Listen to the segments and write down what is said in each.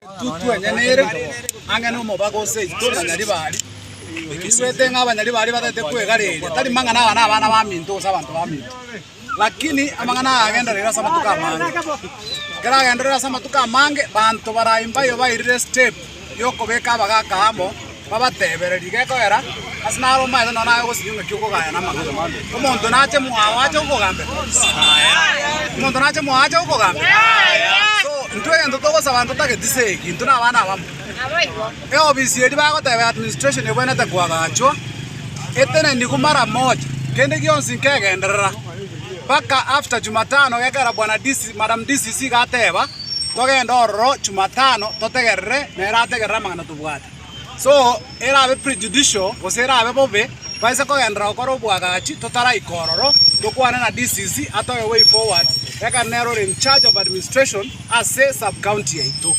Totwenyanere ang'e nomobaga o seito na Nyaribari, toigwete ng'a Abanyaribari batagete kwegareria, tari mang'ana aya nabana baminto gose abanto baminto, lakini amang'ana aya agenderere ase amatuko amange. Ekero agenderere ase amatuko amange, banto baraye mbayo bairire step yokobeka abagaka amo. Babatebere, Riga ekoera, ase naro omaete nonya naye ogosinywa ng'aki okogaya namang'ana. Omonto nache mwao ache gokogambera, Aya. Omonto nache mwao ache gokogambera, Aya. So, intwe egento togosaba ntotageti se eki, intwe nabana abamo. Eofisi eria bagoteba administration ebwenerete koagachwa, eteneniku mara moja, kende gionsi nkegenderera, mpaka after Jumatano gekera bwana DC, madam DCC gateba, togende ororo Jumatano totegerere nere ategerere amang'ana tobwate. So erabe prejudicial gose erabe bobe baise kogenderera gokora obwagachi totaraika ororo tokwane na DCC atoe way forward ekero nere ore in charge of administration ase sub county yaito.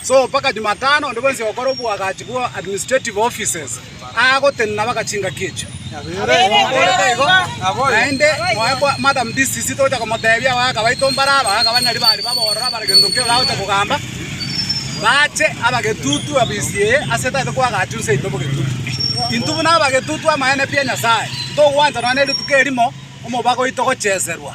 So mpaka Jumatano onde bwensi ogokora obwagachi bwa administrative offices agotenena mpaka chingaki echio. Omooreke igo, naende moe bwa madam this is it ogocha komotebia abagaka baito mbare aba, abagaka banyari baria baborora bare gento ki oragocha kogamba, bache abagetutu abisi eye ase tagete kwagacha onse yaito bogetutu. Intwe buna abagetutu amaene pi a Nyasae, ntogwancha nonya ne rituko erimo omobago oito gocheserwa.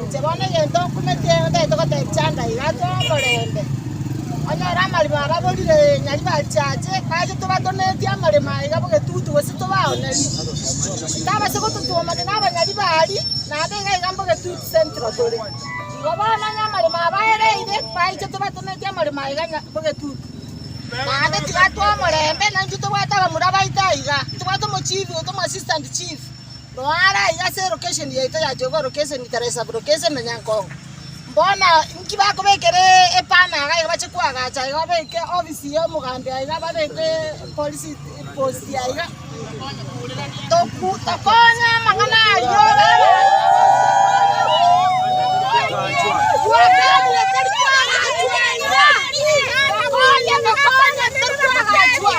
Inche bono egento nkumete otaete goteebia Chanda iga atwao omorembe. Onyore amaremo ababorire nyaribachiache, nache tobatonetie amaremo aa iga bogetutu gose tobaoneri. Tabase gototwomania nabanyari baaria, naende iga iga mbogetutu central tore. Igo bono onye amaremo aa baereire, baiche tobatonetie amaremo aa iga nya bogetutu. Naende tiga atwao omorembe, naintwe tobwate abamura baito aiga, tobwate omochief oito omoassistant chief. Noa are aiga ase elokesheni yaito ya Jogo, lokesheni tari esabu, lokesheni na Nyankongo. Bono inki bakobekera epana iga iga bache koagacha iga babeke ofisi y'omogambi iga babeke polisi posti iga iga. Toku tokonye amang'ana ayio Tokonye tokonye tari koagachwa.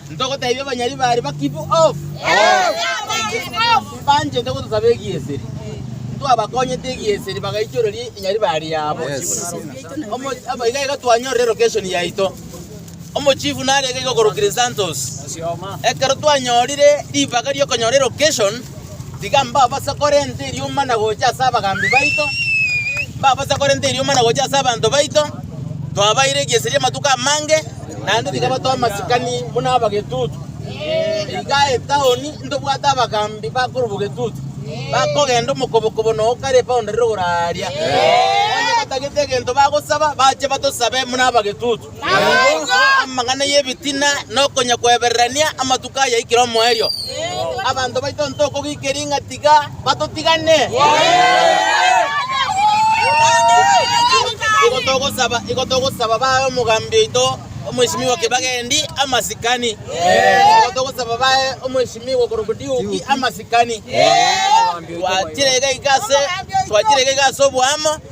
Ntogotebia abanyari bare ba keep off, banchete gotosaba egieseri. Ntwabakonyete egieseri bagaichoreria enyari bare yabo. Omo- abo iga iga twanyorire location yaito. Omochifu narenge iga okorokire Santos. Ekero twanyorire ribaga ri'okonyora elocation, Tiga mbabasakore nte eriomba na gocha ase abagaambi baito, mbabasakore nte eriomba na gocha ase abanto baito, twabaeire egeseria amatuko amange, naende tiga batoe amasikani buna abagetutu. Iga etaoni ntobwate abagaambi bakorwa bogetutu, bakogenda omokobokobo na o kare epaunda rire ogoraaria. Onye batagete egento bagosaba, bache batosabe buna abagetutu. Naboigo amang'ana y'ebitina na okonyakwebererania amatuko ayaikire omoerio. Abanto baito ntokogikeria ng'a tiga batotigane. Igo togosaba, igo togosaba bae omogambi oito omwesimiwa Kibagendi amasikani. Igo togosaba bae omwesimiwa okorokwa Diuki amasikani. Twachire iga iga ase, twachire iga iga ase oboamo,